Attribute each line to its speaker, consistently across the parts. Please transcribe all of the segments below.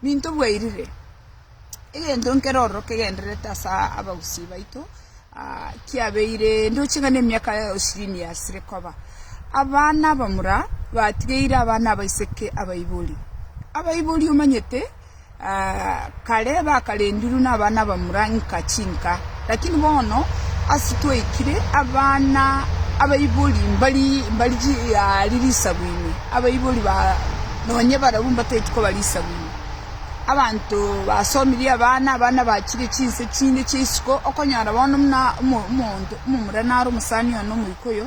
Speaker 1: Ninto bwairire, egento nkere ororo kegendererete ase abagusii baito, kiabeire ndoche ng'a nemiaka ishirini yasire koba. Abana abamura batigeire abana abaiseke abaibori. Abaibori omanyete kare bakarendirwe nabana abamura nka chinka. Lakini bono ase twaikire abana abaibori mbari mbari chiaari risagu ime, abaibori ba nonye barabwo mbatageti koba risagu ime. Abanto basomirie abana, abana bachire chinse chinde chia isiko, okonyora bono buna omo omonto omomura naro omosani one omoika oyo,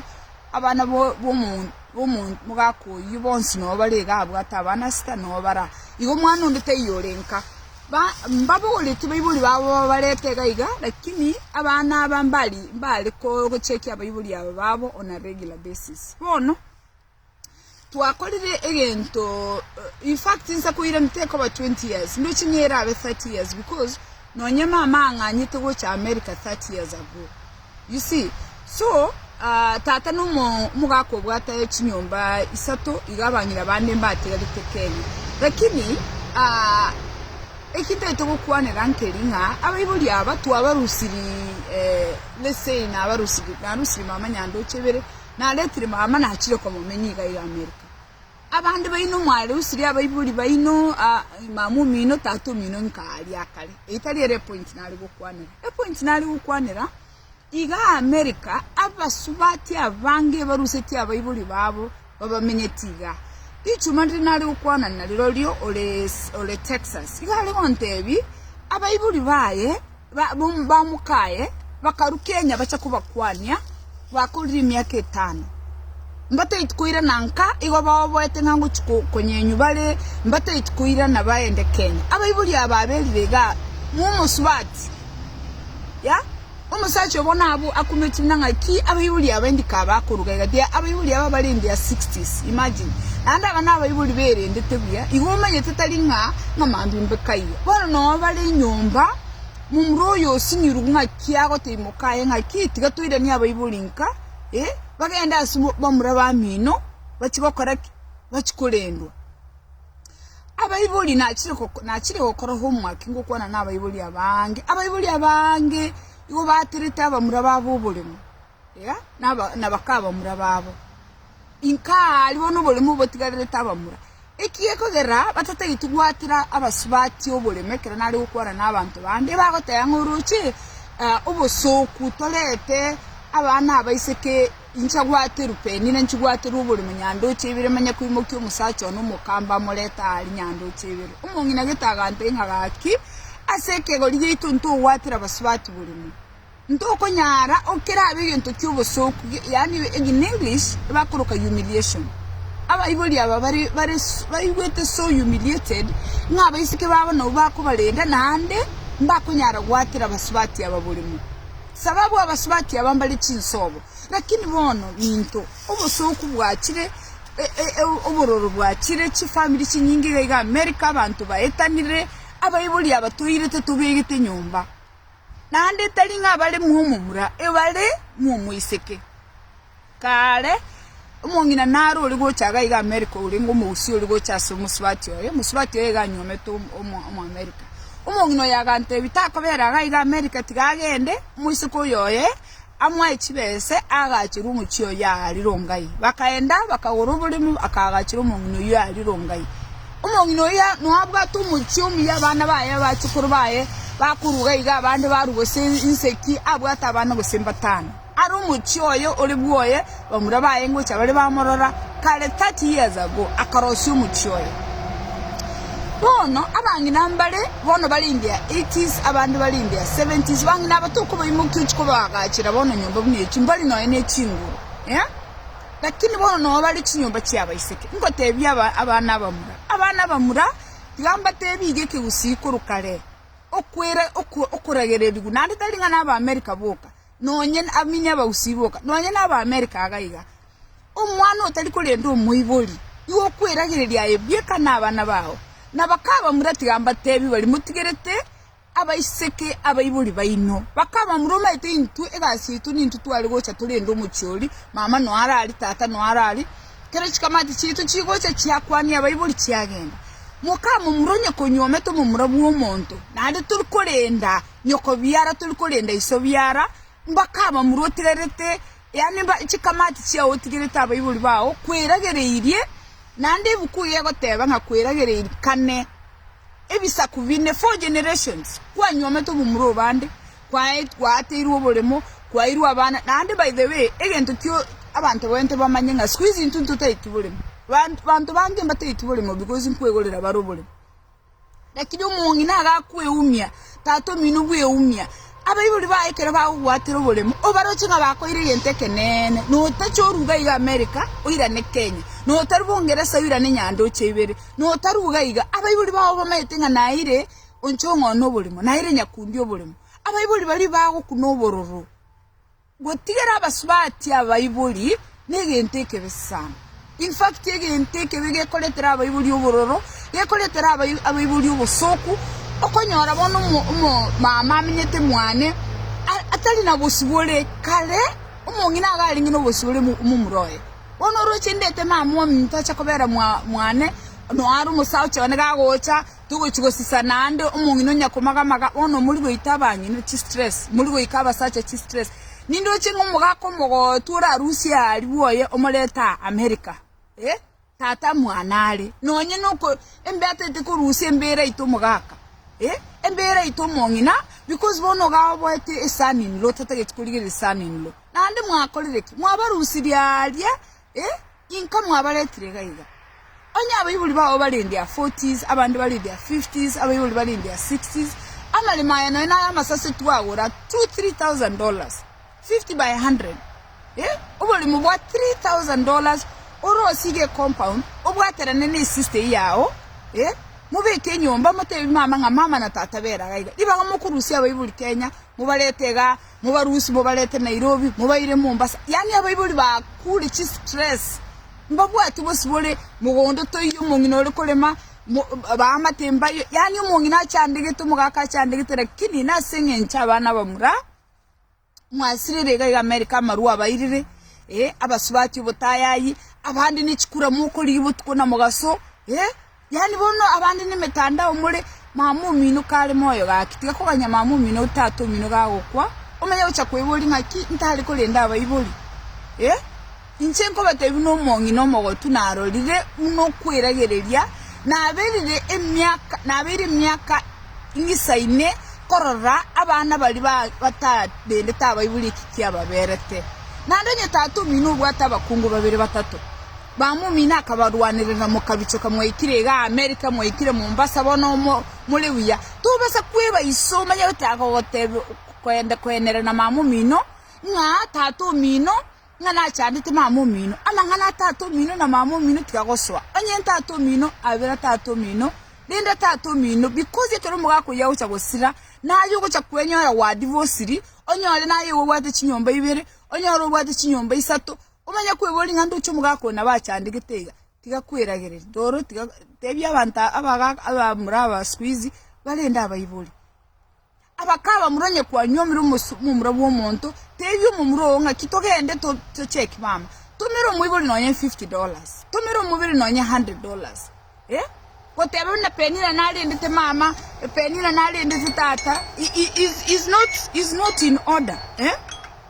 Speaker 1: abana bo bomo bomo omogaka oyio bonsi nabo bare iga abwate abana sita nabo bara igo omwana onde taiyo orenka. mbabogoretie baibori babo babarete iga iga, lakini abana aba mbari mbare kochekia abaibori aba babo on a regular basis. Bono, twakorire egento, in fact inse koirana tekoba twenty years, ndoche ng'a erabe thirty years because nonye mama ang'anyete gocha America thirty years ago. You see? So, ah, tata na omo- omogaka obwate chinyomba isato, iga abang'ina bande mbatigarete Kenya. Lakini, ah, eki ntagete gokwanera nkeri ng'a abaibori aba twabarusiri, eh, let's say nabarusiri, narusiri mama Nyandoche ibere, naretire mama nachire komomenya iga iga America. Abande baino mwarerusirie abaibori baino, mama omino, tata omino nka aria akare. Eye tari ere epointi nare gokwanera. Epointi nare gokwanera, iga America abasubati abange barusetie abaibori babo babamenyeti iga. Rituma rire nare gokwana narirorio ore Texas. Iga are gontebi abaibori baye. bamokaye, bakarukia enya bache kobakwania, bakorire emiaka etano. Mbataiti koirana nka igo baoboete ng'a ngochia konyenywa bare mbataiti koirana baende Kenya. Abaibori aba baberire igaa, momosubati, ya, omosacha obo nabo akumeti buna ng'aki abaibori aba indi ka bakoruga iga tiga abaibori aba bare in their sixties, imagine. Naende aba nabaibori berendete buya, igo omanyete tari ng'a ng'amambia mbe kaiga. Bono nao bare enyomba, momura oyo osinyirwe ng'aki agoteimoka aye ng'aki, tiga toiranie abaibori nka, ee, bagende ase bamura bamino, bachie gokora ki? Bachie korendwa. Abaibori nachire nachire gokora homework ngokwana na abaibori abange, abaibori abange igo baterete abamura babo oboremo. na baka abamura babo. Inka aria bono oboremu obotigarerete abamura, ekiagera kegera batatageti gwatera abasubati oboremu ekero nare gokwana nabanto bande, ebagoteba ng'a oroche obosoku torete abana abaiseke inche gwate rupeni na inche gwaterwe oboremo nya ndoche ibere manye koimokia omosacha one omokamba amorete aa aria nya ndoche ibere. Omong'ina gete agantebia ng'a gaki ase ekegori giaito ntogwatera abasubati boremu. Ntokonyara okerabe egento ki'obosooku, yaani in English bakoroka humiliation. Abaibori aba bare baigwete so humiliated ng'a abaiseke babo nabwo bakobarenda naende mbakonyara goatera abasubati aba borimo. Sababu abasubati aba mbare chinsobo, lakini bono ninto obosooku bwachire, obororo bwachire, chifamiri chinyinge iga iga America, abanto baetanire, abaibori aba toirete tobegete nyomba. naende tari ng'abare mw'omomura ebare mw'omoiseke. Kaare, omong'ina naro ore gocha iga iga Amerika orenge omogusii ore gocha ase omosubati oye, omosubati oye iga anyuomete Omoamerika. Omong'ina oyo agantebi, Takobera iga iga Amerika, tiga agende, omoiseke oyo oye. Amo aye chibese aagachire omochie oyio aarire ongai. Bakaenda, bakagora oboremu, akaagachera omong'ina oyio aarire ongai. Omong'ina oyio noabwate omochie omuya, abana baye, abachukuru baye bakoruga iga, abande baruga gose inseki, abwate abana gose mbatano. Are omochie oye ore bwoye, Bamura baye ngocha bare bamorora kare thirty years ago akarosia omochie oye. Bono abang'ina mbare bono bare in their eighties abande bare in their seventies bang'ina aba tokobaimokia ochia kobaagachera bono nyomba buna echio mbari nonya ne chinguru eh lakini bono noo bare chinyomba chia abaiseke. Ngotebia aba abana abamura abana abamura tiga mbatebi iga ekegusii korwa kare okwera okoragererigwa naende tari ng'a na aba America boka. nonye abamini abausi boka, nonye n'Abaamerika iga iga. Omwana otari korenda omoibori, nigo okweragereria aye bweka nabana bao. Na bakabamura, Tiga mbateebie baria motigerete abaiseke abaibori baino. Bakabamura, Omanyete intwe egasi yaito nintwe tware gocha torende omochie oria, mama noe arari, tata noe arari, ekero chikamati chiaito chigocha chiakwania abaibori chiagenda. Mokamomura onye konyuomete omomura bw'omonto, naende tori korenda. Nyokobiara tori korenda iso biara, mbaka abamura otigarete, yaani chikamati chiao otigerete abaibori bao, kweragereirie, naende ebuku eye egoteba ng'a kweragererikane ebisaku bine, four generations, kwanyuomete obomura obande, kwaateirwe oboremo, kwairwe abana, naende by the way, egento kio abanto baye tibamanye ng'a siku hizi intwe intwe totaeti boremo, banto bange mbateti boremo because nkwegorera bare oboremo. Lakini omong'ina agakweumia, tatomino bweumia. Abaibori baye ekero bagogwatera oboremo, obaroche ng'a bakoire egento ekeneene, na otache oruga iga America, oirane Kenya, na otarwa Ongeresa, oirane nyandoche ibere, na otarwa iga iga. Abaibori bao bamanyete ng'a naire oncha ong'oone oboremo, naire nyakundi oboremo. Abaibori baria bagokuna obororo. Gotigera abasubati abaibori negento ekebe sana. In fact, egento ekebe gekoretera abaibori obororo, gekoretera abaibori obosoku. Okonyora bono omomama amenyete mwane atari na bosibore, kare omong'ina iga arenge nobosibore momura oye. Bono oroche ndete mama ominto ache kobera mwane nonya are omosaocha one gagocha. Togochi gosesa naende omong'ina onya komaga-maga bono mori goita abang'ina chistress, mori goika abasacha chistress. Ninde oche ng'a omogaka omogootu orarusie aria bwoye omorete aa America? Eh, tata mwane are. Nonye noko embeata ete korusia embeera yaito omogaka, eh, embeera yaito omong'ina because bono iga oboete eson in law, totageti korigereria son in law. Naende mwakorire ki? Mwabarusirie aria Eh, inka mwabaretire iga iga. Onye abaibori bao bare in their forties, abande bare in their fifties, abaibori bare in their sixties, amaremo aya nonya naro amasase twagora two, three thousand dollars, fifty by hundred. Eh, oboremo bwa three thousand dollars orosige ecompound, obwaterane na esista eye yao, eh, mobeke enyomba, motebi mama ng'a mama na tata bera iga iga. Ribaga mokorusia abaibori Kenya, mobarete iga, Mobarusie mobarete Nairobi mobaire Mombasa. Yaani abaibori bakure chistress mbabwate bosibore mogondo toiyo omong'ina ore korema baamate mbayo yaani omong'ina achandegete omogaka achandegete lakini nase eng'encho abana abamura mwasirire iga iga America amarwa abairire abasubati obotayayi abande nechikura mokorigia botuko na mogaso Yaani bono abande nemetandao more, mama omino kare moyo gaki, tiga koganya mama omino ou tata omino gagokwa, omanye gocha kweboria ng'aki ntare korenda abaibori? Eh, inche nkobateebia nomong'ina omogotu narorire buna okweragereria naberire emiaka nabeire emiaka ing'isaine korora abana baria ba batarendete abaibori eki kiababerete. Naende onye tata omino obwate abakungu babere batato, Bamomino akabarwanerera, Mokabichoka mwaikire iga Amerika, mwaikire Mombasa, bono more buya. Tobasa kweba iso omanye goteeba koenera na mamomino, ng'a tata omino ng'a nachandete mamomino. Amang'ana a tata omino na mamomino tiga gosoa. Onye tata omino abe na tata omino, renda tata omino because ekero omogaka oyio agocha gosira, naye ogocha kwenyora gwa divosiri, onyore naye igo obwate chinyomba ibere, onyore obwate chinyomba isato, Omanye kweboria ng'a ndoche omogaka oyo nabo achandegete iga, tiga kweragereria. Roro tiga tebia abanto abagaka abamura aba siku hizi barende abaibori. Abaka abamura onye kwanywa omire omomura bw'omonto, tebia omomura oo ng'aki togende tocheki mama, tumera omoibori nonye fifty dollars, tumera omoibori nonye hundred dollars. goteba buna Penina narendete mama, Penina narendete tata is not in order,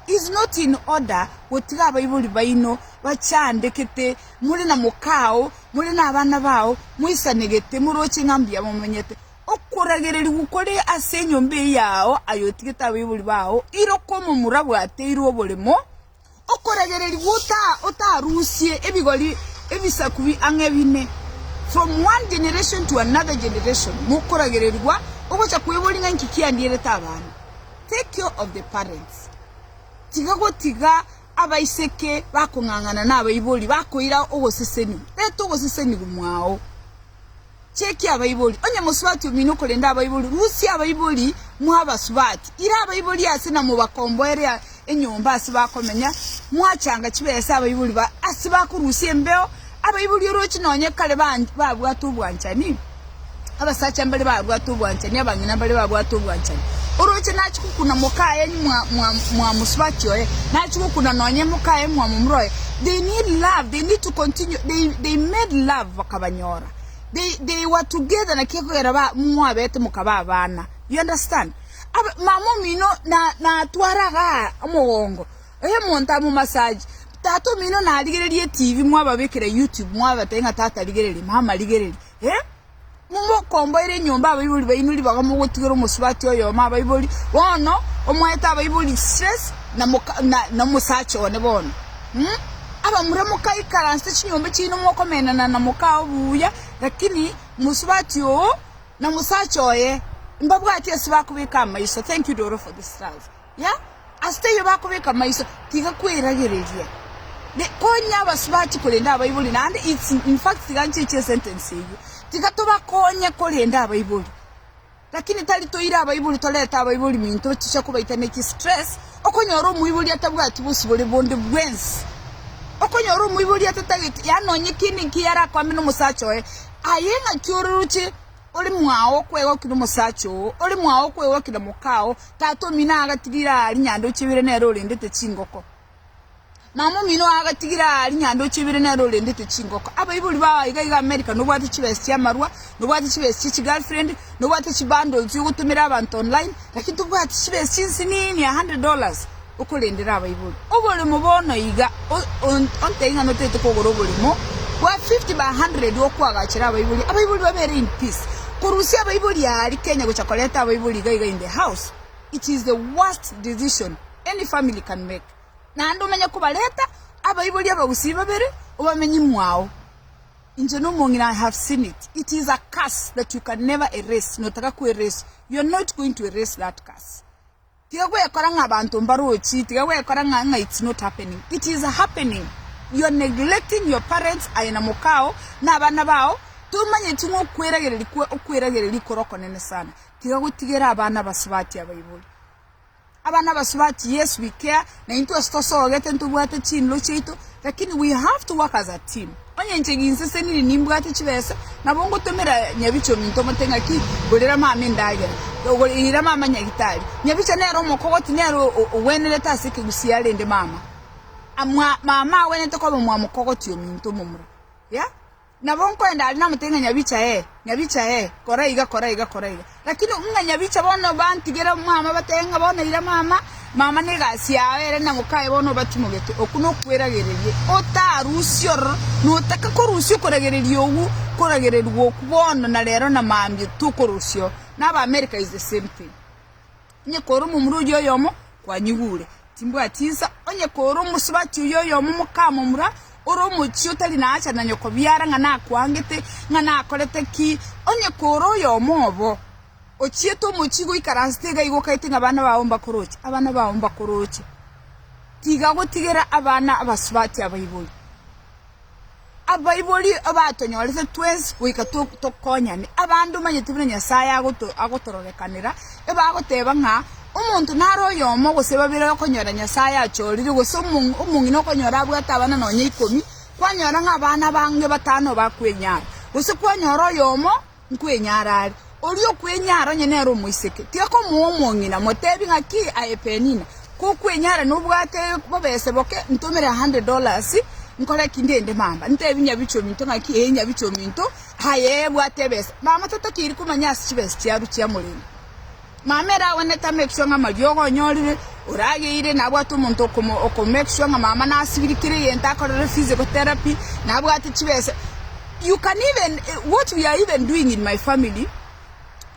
Speaker 1: is not in order gotiga abaibori baino bachandegete more na moka oo, more na abana bao moisanegete moroche ng'a mbuya momonyete. Okoragererigwa kore ase enyomba eye yao aye otigete abaibori bao, ira okomomura bwateirwe oboremo. Okoragererigwa otarusie ebigori ebisaku ang'e bine. From one generation to another generation mokoragererigwa ogocha kweboria ng'a inki kiandierete abana. Take care of the parents. Tiga gotiga abaiseke bakong'ang'ana nabaibori bakoira ogoseseniwa. Reta ogoseseniwa mwao. Chekia abaibori, onye mosubati omino korende abaibori, rusia abaibori mwabasubati, ira abaibori aase na mobakomboere enyomba ase bakomenya, mwachanga chibesa abaibori ba ase bakorusia embeo, abaibori orochi nonye kare bande babwate obwanchani, abasacha mbare babwate obwanchani, abang'ina mbare babwate obwanchani. Oroche nachia gokuna mokaye mwa mwa mwamosubati oye, nachia gokuna nonye mokaye mwamomura oye, they need love, they need to continue, they they made love bakaba. bakoyora, they they were together naki ekogera ba mwabete mokaba abana, you understand? Aba mama omino na natwara igaa omogongo oyo omonto amo massage, tata omino narigereria etibi mwababekera YouTube mwabatebia ng'a tata rigereria mama rigereria eh, momokomboera enyomba abaibori baino ribaga mogotigera omosubati oyomo abaibori, bono omoete abaibori stress na moka na na omosacha one bono. Abamura mokaikaransa chinyomba chiaino mokomenana na mokaa obuya, lakini mosubati oo na mosacha oye mbabwati ase bakobeka amaiso. Thank you Doro for this love yeah ase teiyo bakobeka amaiso tiga kweragereria be konya abasubati korenda abaibori naende its infact tiga nchiche esentence eyio tiga tobakonye korenda abaibori. Lakini tari toire abaibori torete abaibori minto ochicha kobaita neki stress okonyora omoibori atabwati bosibore bonde bwensi okonyora omoibori atatagete yaani nonye kende inki yarakwambie nomosacha oye aye ngaki oroche ore mwao okwegokia nomosacha oo ore mwao okwegokia na mokao tata omino agatirire aa rinyanda ochiebire nere orendete chingoko. Mama omino oye agatigire aa rinyanda ochebire nere orendete chingoko. Abaibori bao aiga iga America nobwate chibesa chia marwa, nobwate chibesa chia chi girlfriend, nobwate chi bundles yo gotomera abanto online lakini tobwati chibesa chinsinini a hundred dollars okorendera abaibori. Oboremo bono iga ontebie ng'a notagete kogora oboremo bwa fifty by hundred okwagachere abaibori, abaibori babere in peace. Korusia abaibori aa ri Kenya gocha koreta abaibori iga iga in the house it is the worst decision. Any family can make, naende omenye kobareta abaibori abagusii babere obamenye mwao. Inche nomong'ina I have seen it, it is a curse that you can never erase, notaka ko erase, you are not going to erase that curse. Tiga gwekora ng'a abanto mbarochi, tiga gwekora ng'a ng'a it's not happening, it is happening. You are neglecting your parents aye na mokao na abana bao, tomanyeti ng'a okweragereria kwe okweragereria kore okonene sana. Tiga gotigera abana abasubati abaibori. Aba nabasubati Yesu wikea, na intwe ase tosogete ntobwate chinlo chiaito, lakini we have to work as a team. Onye inche ginseseniri nimbwate chibesa, nabo ngotomera nyabicha ominto omote ng'aki, gorera mama endagera, gorera mama nyagitari. Nyabicha nere omokogoti nere ogwenerete ase ekegusii arende mama mama agwenerete koba mwamokogoti ominto omomura. Yeah? Nabo nkoenda are namote ng'a Nyabicha ee, Nyabicha ee, kora iga, kora iga, kora iga. Lakini ng'a Nyabicha bono bantigere omwama, batebe ng'a bono ira mama, mama negasi yao ere na mokaye bono obatimogete, okwo nokweragereria. Otarusia ororo, notaka korusia okoragereria okwo, koragererigwa okwo bono na rero na mambia tokorosiao. Naba America is the same thing. onye kore omomura oyio oyomo kwanyigure, timbwati nsa, onye kore omosubati oyio oyomo mokamomura, ore omochie otari na haja na nyokobiara ng'a nakwangete, ng'a nakorete ki, onye kore oyomo obo ochiete omochie goikaransete iga iga okaete ng'a abana bao mbakoroche, abana bao mbakoroche, tiga gotigera abana abasubati abaibori. Abaibori abatonyorete twensi goika tokonyane. Abanto omanyete buna Nyasae agotororekanera ebagoteba ng'a omonto naro oyomo gose babere okonyora Nyasae achorire gose omong'ina okonyora abwate abana nonya ikomi, kwanyora ng'a abana abange batano bakwenyara, gose kwanyora oyomo nkwenyara are. Oria okwenyara onye nere omoiseke, tiakomoa omong'ina, moteebie ng'a, Ki aye Penina, kokwenyara nobwate bobese boke, ntomere a hundred dollars, nkore ki? Ndende mamba. Nteebie nyabiche ominto ng'a, Ki ee, nyabiche ominto, aye bwate ebesa. Mama tatokeiri komanya ase chibesa chiabu chiamoremo. Mama ere agwenerete amake sure ng'a amariogo onyorire orageire na abwate omonto oko make sure ng'a mama nasibiri kera egento akorere physical therapy na abwate chibesa you can even what we are even doing in my family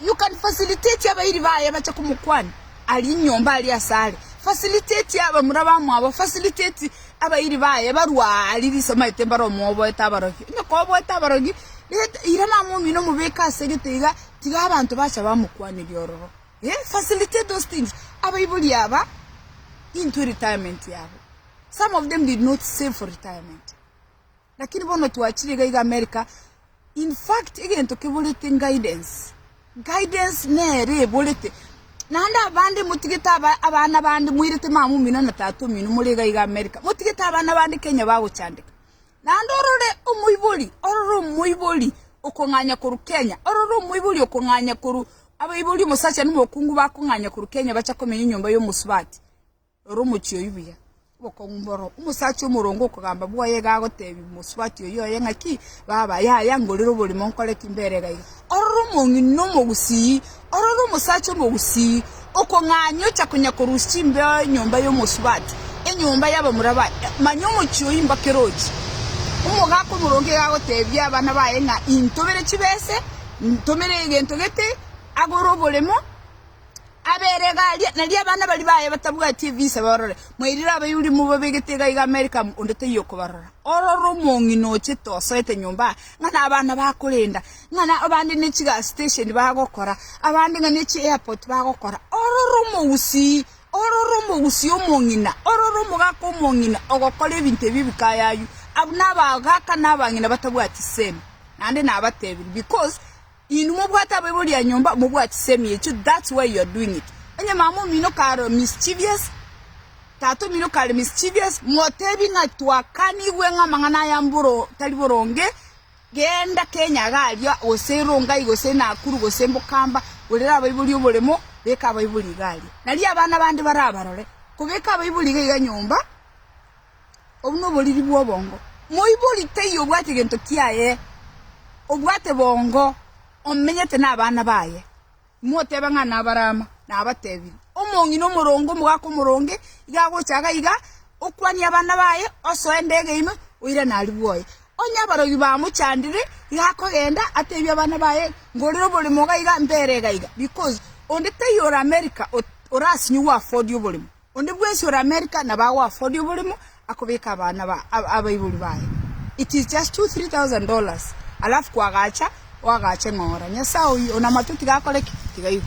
Speaker 1: you can facilitate abairi baye bache komokwana aria nyomba aria ase are facilitate abamura bamwabo facilitate abairi baye barue aa riria asamaete mbare omwoboete abarokia onye koboete abarokia ira mama omino omobeke ase egete iga tiga abanto bacha bamokwanirie ororo. Eh, facilitate those things. Abaibori aba into retirement yabo. Some of them did not save for retirement. Lakini bono twachire iga iga America. In fact, egento keborete guidance. Guidance nere eborete. Naende abande motigete aba, abana bande moirete mama omino na tata omino more iga iga America. Motigete abana bande Kenya bagochandeka. Naende orore omoibori, orore omoibori okong'anya korwa Kenya, orore omoibori okong'anya korwa abaibori omosacha nomokungu bakong'anya korwa Kenya bache komenya enyomba y'omosubati. Rora omochie oyio buya, obokong'u mboro. Omosacha omoronge okogamba bwoye iga agotebi omosubati oyio oye ng'aki, baba, yaya ngorere oborimo nkore ki? Mbere iga iga. Ororo omong'ina omogusii, ororo omosacha omogusii, okong'aini ocha konya korusia chimbeo enyomba y'omosubati, enyomba y'abamura baye, manya omochie oyio imbake erochi. Omogaka omoronge iga agoteebia abana baye ng'a, Intomere chibese, intomere egento gete, agore oboremo, Aberegaria, nario abana baria baye batabwati ebisa barore, mwairire Abayuda mobabegete iga iga Amerika amo, onde taiyo okobarora. Ororo omong'ina ochete osoete nyomba aa, ng'a nabana bakorenda, ng'a abande ne chigas station bagokora, abande ng'a ne chi airport bagokora. Ororo omogusii, ororo omogusii omong'ina, ororo omogaka omong'ina ogokora ebinto ebi bikayayu. Abwo nabagaka na abang'ina batabwati semi. Naende nabatebirie, because. Inwe mobwate abaibori a nyomba, mobwatise emiecho, that's why you are doing it. Onye mama omino karo mischievous, tata omino kare mischievous, motebi ng'a twakanigwe ng'a amang'ana aya mboro tari boronge, genda Kenya iga aria, gose Rongai, gose Nakuru, gose Mbokamba, borera abaibori oboremo, beka abaibori iga aria. Nario abana bande barabarore, kobeka abaibori iga iga nyomba. Obwo noboriri bw'obongo. Moibori teiyo obwate gento kiaye, obwate bongo, omenyete nabana baye. Imoteba ng'a nabarama, nabatebirie, Omong'ina omoronge, omogaka omoronge, iga agocha iga iga, okwanie abana baye, osoe endego yaino, oirane aria bwoye. Onye abarogi bamochandire, iga akogenda, atebie abana baye, ngorire oboremo iga iga, mbere iga iga, because onde teiyo ore America orasinyigwe afford oboremo. Onde bwensi ore America nabo ago afford oborimo akobeka abana abaibori baye it is just two three thousand dollars alafu kwagacha oagache ng'ora nyasae oyio onamato tiga akore ki? tiga aigwe.